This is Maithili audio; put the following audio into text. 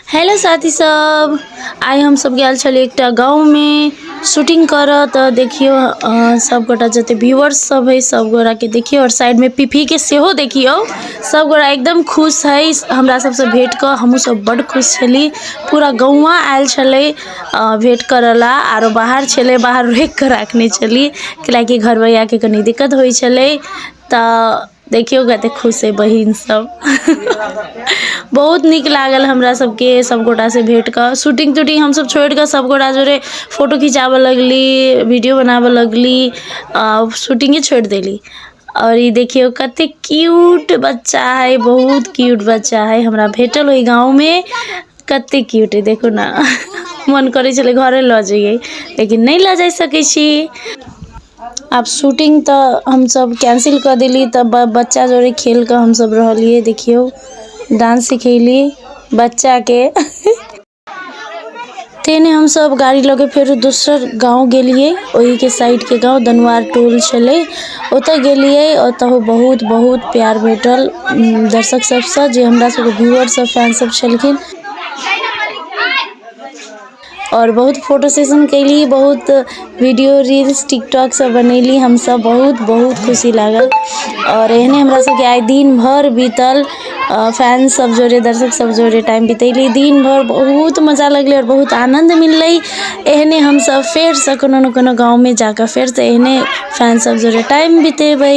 हेलो साथी सब आइ हमसब गेल छलियै एकटा गाँवमे शूटिंग करऽ तऽ देखियौ अहाँ सबगोटा जते व्यूअर्स सब हय सबगोटाके देखियौ आओर साइडमे पीपीके सेहो देखियौ सबगोटा एकदम खुश हय हमरा सबसँ भेट कऽ हमहुँ सब बड्ड खुश छली पूरा गौआँ आयल छलै अऽ भेट करऽ ला आरो बाहर छलै बाहर रोकि कऽ राखने छली कैलाकि घरबैयाके कनी दिक्कत होइ छलै तऽ देखियौ कते खुश हइ बहिन सब बहुत नीक लागल हमरा सबके सबगोटा से भेट कऽ शूटिंग तूटिंग हमसब छोड़ि कऽ सबगोटा जोड़े फोटो खिचाबऽ लगली वीडियो बनाबऽ लगली आ शूटिंगे छोड़ि देली आओर ई देखियौ कते क्यूट बच्चा हइ बहुत क्यूट बच्चा हइ हमरा भेटल ओहि गाँवमे कते क्यूट हइ देखू ने मन करै छलै घरे लऽ जइयै लेकिन नहि लऽ जाइ सकै छी आब शूटिंग तऽ हमसभ कैंसिल कऽ देली तऽ ब बच्चा जोड़े खेलि कऽ हमसभ रहलियै देखियौ डांस सिखयली बच्चाके तेने हमसभ गाड़ी लऽ कऽ फेरो दोसर गाँव गेलियै ओहिके साइडके गाँव दनुआर टोल छलै ओतय गेलियै ओतहु बहुत बहुत प्यार भेटल उम, दर्शक सभसँ जे हमरा सभके व्यूअरसभ फैनसभ छलखिन आओर बहुत फोटो सेशन कएली बहुत वीडिओ रील्स टिकटॉकसब बनेली हमसभ बहुत बहुत खुशी लागल आओर एहने हमरासभके आइ दिनभरि बितल फैनसभ जोरे दर्शकसभ जोरे टाइम बितेली दिनभरि बहुत मजा लगलै आओर बहुत आनन्द मिललै एहने हमसभ फेरसे कोनो ने कोनो गाममे जा कऽ फेरसे एहने फैनसभ जोरे टाइम बितेबै